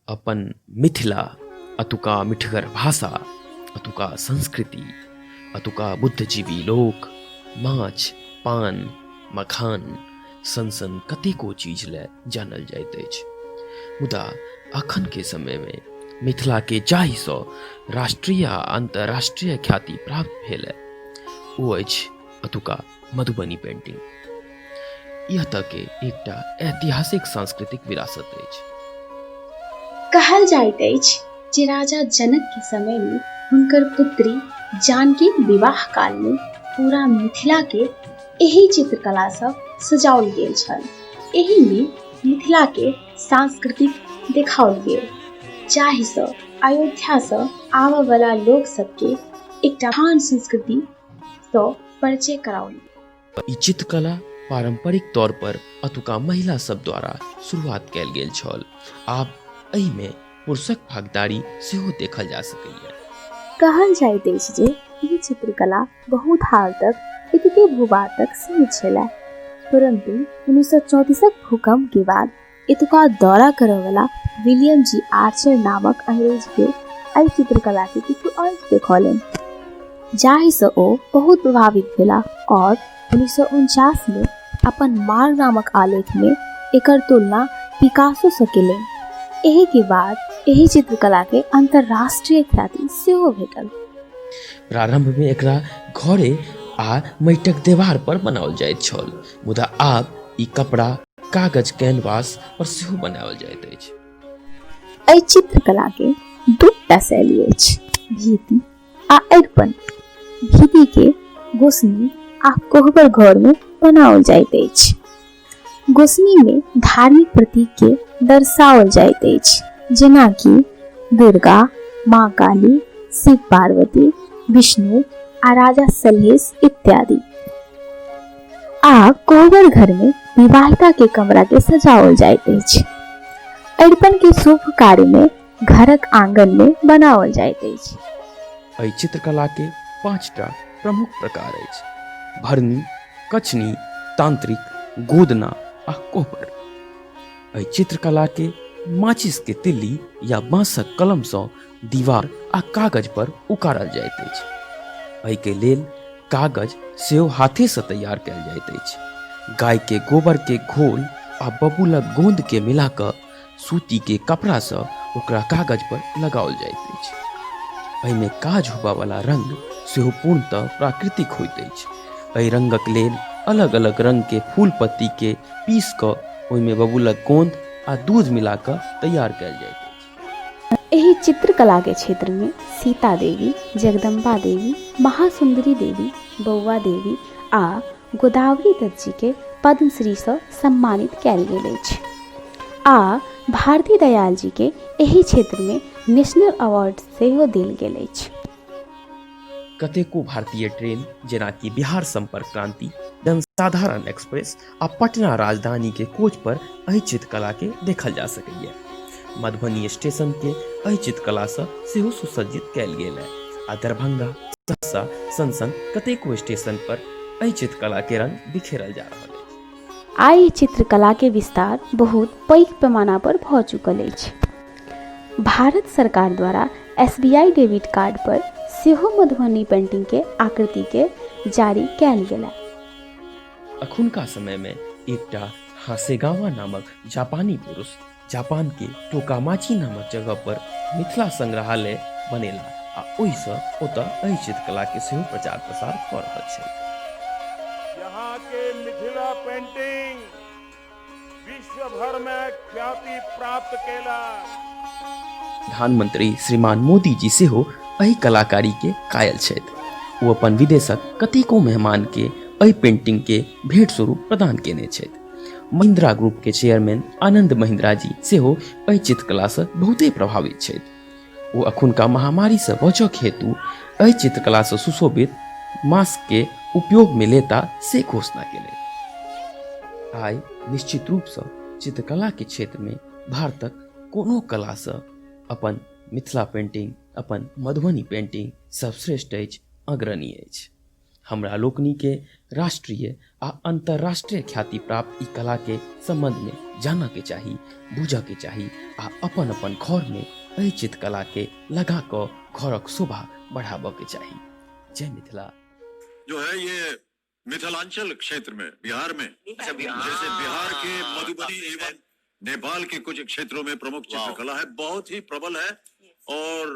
अपन मिथिला अतुका मिठगर भाषा अतुका संस्कृति अतुका बुद्धजीवी लोक माछ पान मखान सन सन कतेको चीज लए जानल जाइत अछि मुदा अखन के समय मे मिथिला के जाहि सँ राष्ट्रीय आ अंतर्राष्ट्रीय ख्याति प्राप्त भेल ओ अछि अतुका मधुबनी पेंटिंग यह तक के एकटा ऐतिहासिक सांस्कृतिक विरासत अछि कहल जाइत अछि जे राजा जनक के समय में हुनकर पुत्री जानकी विवाह काल में पूरा मिथिला के एही चित्रकला से सजाओल गेल छल एही में मिथिला के सांस्कृतिक देखाओल गेल जाहि से अयोध्या से आवे वाला लोग सब के एकटा महान संस्कृति तो परिचय कराओली ई चित्रकला पारंपरिक तौर पर अतुका महिला सब द्वारा शुरुआत कैल गेल छल आब एहि में पुरुषक भागदारी सेहो देखल जा सकैए कहल जाइत अछि जे ई चित्रकला बहुत हाल तक इतके भूभाग तक सीमित छलै परंतु उन्नीस सौ चौंतीसक भूकंप के बाद एतुका दौरा करय वाला विलियम जी आर्चर नामक अंग्रेज के एहि चित्रकला के किछु अंश देखौलनि जाहि से ओ बहुत प्रभावित भेला और उन्नीस सौ उनचास में अपन मार नामक आलेख में एकर तुलना पिकासो से केलनि एहि के बाद एहि चित्रकला के अंतर्राष्ट्रीय ख्याति सेहो भेटल प्रारंभ में एकरा घरे आ मैटक देवार पर बनाओल जाइत छल मुदा आब ई कपड़ा कागज कैनवास पर सेहो बनाओल जाइत अछि एहि चित्रकला के दूटा शैली अछि भीति आ अरिपन भीति के गोसनी आ कोहबर घर में बनाओल जाइत अछि गोसनी में धार्मिक प्रतीक के दर्शाओल जाइत अछि जेना कि दुर्गा माँ काली शिव पार्वती विष्णु आ राजा सलहेश इत्यादि आ कोहबर घर में विवाहिता के कमरा के सजाओल जाइत अछि अरिपन के शुभ कार्य में घरक आंगन में बनाओल जाइत अछि एहि चित्रकला के पांचटा प्रमुख प्रकार अछि भरनी कचनी तांत्रिक गोदना आ कोहबर एहि चित्रकला के माचिस के तिल्ली या बांसक कलम सँ दीवार आ कागज पर उकारल जाइत अछि एहिके लेल कागज सेहो हाथेसँ तैयार कयल जाइत अछि गायके गोबरके घोल आ बबूलक गोन्दके मिला कऽ सूतीके कपड़ासँ ओकरा कागज पर लगाओल जाइत अछि एहिमे काज होबयवला रंग सेहो पूर्णतः प्राकृतिक होइत अछि एहि रंगक लेल अलग अलग रंगके फूल पत्तीके पीस कऽ ओहिमे बबूलक गोन्द आ दूध मिला कऽ तैयार कयल जाइत अछि एहि चित्रकला के क्षेत्र में सीता देवी जगदम्बा देवी महासुंदरी देवी बौआ देवी आ गोदावरी दत्त जी के पद्मश्री से सम्मानित कयल गेल अछि आ भारती दयाल जी के एहि क्षेत्र में नेशनल अवार्ड सेहो देल गेल अछि कतेको भारतीय ट्रेन जेनाकि बिहार संपर्क क्रांति जनसाधारण एक्सप्रेस आ पटना राजधानी के कोच पर एहि चित्रकला के देखल जा सकैए मधुबनी स्टेशन के एहि चित्रकला से सेहो सुसज्जित कयल गेल है आ दरभंगा सहरसा सन सन कतेको स्टेशन पर एहि चित्रकला के रंग बिखेरल जा रहल अछि आइ चित्रकला के विस्तार बहुत पैघ पैमाना पर भऽ चुकल अछि भारत सरकार द्वारा S B I debit card पर सेहो मधुबनी पेंटिंग के आकृति के जारी कयल गेल है। अखुनका समय में एक टा हासेगावा नामक जापानी पुरुष जापान के टोकामाची नामक जगह पर मिथिला संग्रहालय बनेला आ ओहिसँ ओतऽ एहि चित्रकला के सेहो प्रचार प्रसार कऽ रहल छै यहाँ के मिथिला पेंटिंग विश्व भर में ख्याति प्राप्त केला प्रधानमंत्री श्रीमान मोदी जी सेहो एहि कलाकारी के कायल छथि ओ अपन विदेशक कतेको मेहमान के एहि पेंटिंग के भेंट स्वरूप प्रदान केने छथि महिंद्रा ग्रुप के चेयरमैन आनंद महिंद्रा जी सेहो एहि चित्रकला से बहुते प्रभावित छथि ओ अखुनका महामारीसँ बचक हेतु एहि चित्रकलासँ सुशोभित मास्कके उपयोगमे लेता से घोषणा केलथि आइ निश्चित रूपसँ चित्रकलाके क्षेत्रमे भारतक कोनो कलासँ अपन मिथिला पेंटिंग अपन मधुबनी पेंटिंग सर्वश्रेष्ठ अछि अग्रणी अछि हमरा लोकनि के राष्ट्रीय आ अंतर्राष्ट्रीय ख्याति प्राप्त ई कला के संबंध में जानऽ के चाही बूझऽ के चाही आ अपन अपन घर में एहि चित्रकला के लगा कऽ घरक शोभा बढ़ाबऽ के चाही जय मिथिला जो है ये मिथिलांचल क्षेत्र में बिहार में अच्छा, बिहार। जैसे बिहार के हाँ, मधुबनी काफी है। एवं नेपाल के कुछ क्षेत्रों में प्रमुख वाह। चित्रकला है बहुत ही प्रबल है और